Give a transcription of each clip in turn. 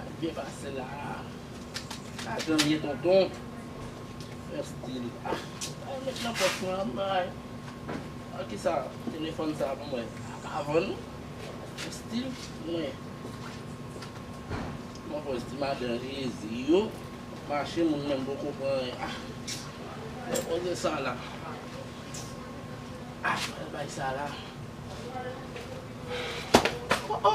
Ap byen pase la. Lajan liye tonton. Rèstil la. Mwen met nan pòch mwen an bay. An ki sa telefòn sa pou mwen. A pa vann. Rèstil mwen. Mwen pòch ti madan jezi yo. Mache moun menm poko pran anyen. A. Mwen poze sa la. A. Mwen bay sa la. O o.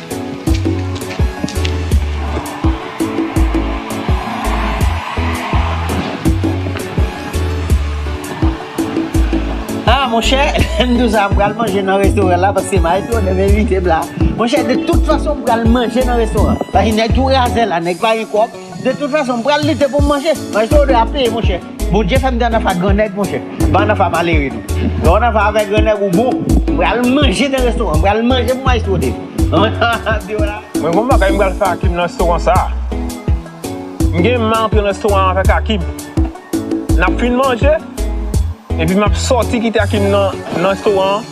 Ah monchè, m di w sa, m pral manje nan restoran la paske Maestro te envite m la. Monchè, de tout fason m pral manje nan restoran an. Paske nèg tou razè la, nèg pa gen kòb. De tout fason, m pral lite pou m manje. Maestro 2 ap peye monchè. Bondye fèm gen anafan gran nèg monchè Ban anafan malere tou Lè w anafan avèk gran nèg ou bon M pral manje nan restoran M pral manje pou maestro Dave Anafan diw la Mwen gon bagay m pral fè Akim nan restoran sa M gen m antre nan restoran avèk Akim Nap fin manje Epi map sòti kite Akim nan restoran an.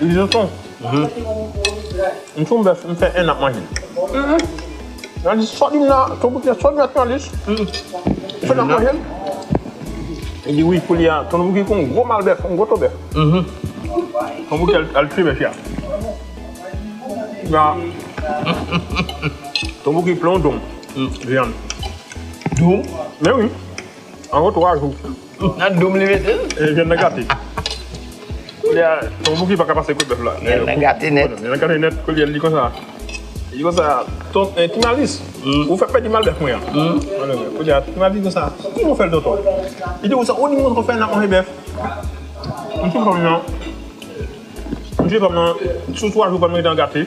Jonson, m sou bèf, m fè 1 an ap manje. Jounalist sòt vin la, ton Bouki a sòt vin la jounalist. Fè 1 an ap manje l. Li di wi koulye a ton Bouki gon gwo mal bèf, gon gwo to bèf. Ton Bouki al tiye bèf ya. Ya Ton Bouki plen yon donm vyann. Donm? Men wi, an gwo 3 jou. Nan doum li mete l. E vyann nan gate. Koulye a ton Bouki pa ka pase kot bèf la. Vyann nan gate nèt. Vyann nan gate nèt koulye a l di konsa. Li di konsa, ton Ti Malis, ou fè m pèdi mal bèf mwen an. Koulye a Ti Malis di konsa, ki jan w fè l tonton? Li di konsa, ou di m konsa w fè nan manje bèf. M di fanm nan, m di fanm nan sou 3 jou fanm nan gen tan gate.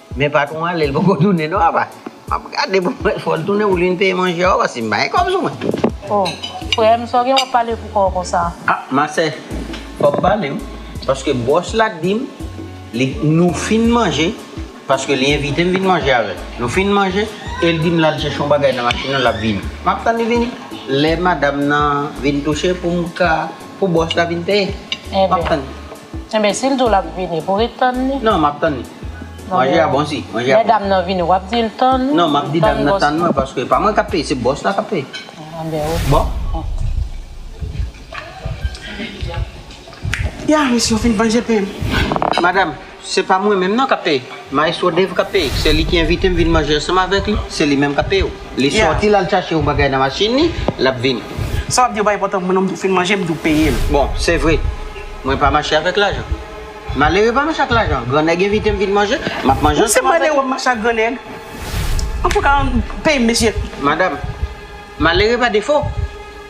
Men patron ale li poko tounen non apa map gade pou mwen fol tounen ou vin peye manje a paske m pa gen kob sou mwen. Oh frem sa w gen wap pale pou kòw konsa. Ah ma sè fòm pale wi paske bòs la t dim li nou fin manje paske li envitem vin manje avèl nou fin manje el dim lal chèche yon bagay nan machin nan lap vini map tann li vini lè madam nan vin touche poum ka Pou bòs la vin peye. Map tann li. Enben sil diw lap vini pou ret tann li? Non map tann li. Manje a bon si. Manje a bon. Lè dam nan vini wap dil tann li? Non map di dam nan tann mwen paske pa mwen kap peye se bòs la kap peye. Enben ok. Bon. Ya mesye yo fin manje peyim. Madam. Se pa mwen menm non kap peye. Maestro Dave kap peye. Se li ki envite m vin manje ansanm avèk li. Se li menm kap peye w. Li sòti l al chache yon bagay nan machin li, l ap vini. Sa w ap di yo pa enpòtan pou mwen non m tou fin manje m tou peye l. Bon, se vre. Mwen pa mache avèk lajan. Malere pa mache ak lajan. Gran nèg envite m vin manje, m ap manje ansanm avèk li. Ou se malere w ap mache ak gran nèg? Antouka, peye m mesye. Madam, malere pa defo.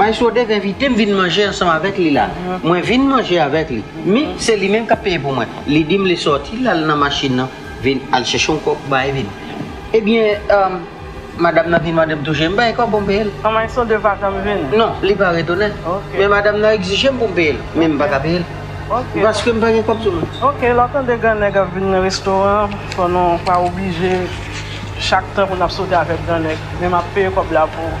Maestro Dave envite m vin manje ansanm avèk li la. Mwen vin manje avèk li. Men, se li menm k ap peye pou mwen. Li di m li sòti, l al nan machin nan, vin al chèche yon kòb, bay vin. Ebyen, madam nan vin mande m tou je. M bay kòb pou m peye l. Maestro Dave pa janm vin? Non, li pa retounen. Men madam nan egzije m pou m peye l. Men m pa ka peye l. Paske m pa gen kòb sou mwen. Ok, lè w tande gran nèg ap vin nan restoran an, fò nou pa oblije chak tan pou n ap sòti avèk gran nèg. Men m ap peye kòb la pou ou.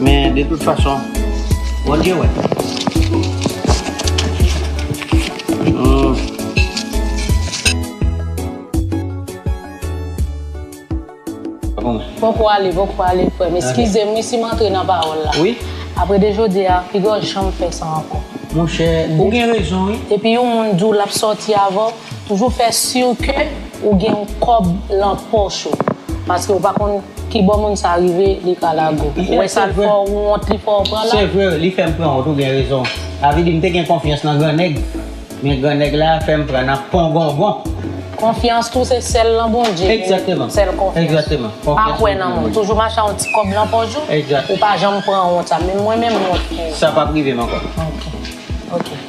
Men de tout fason, Bondye wè. Poko ale, poko ale frèm. Eskizem wi sim antre nan pawòl la. Wi. Apre de jodi a, pigaw janm fè sa ankò. Monchè, ou gen rezon wi. Depi yon moun diw lap sòti avèw. Toujou fè sur ke ou gen yon kòb lan pòch ou. Paske ou pa konn ki bò moun sa rive li ka lage w. Ou wè sa l fè w wont li fè w pran la. Se vre li fè m pran wont ou gen rezon. Sa vle di m te gen konfyans lan gran nèg. Men gran nèg la fè m pran nan pongongon. Konfyans tou se sèl lan Bondye ki gen sèl konfyans. Pa kwè nan moun. Toujou mache ak yon ti kòb lan pòch ou. Ou pa janm pran wont sa. Menm mwen menm wont. Sa pap rive m ankò. Ok.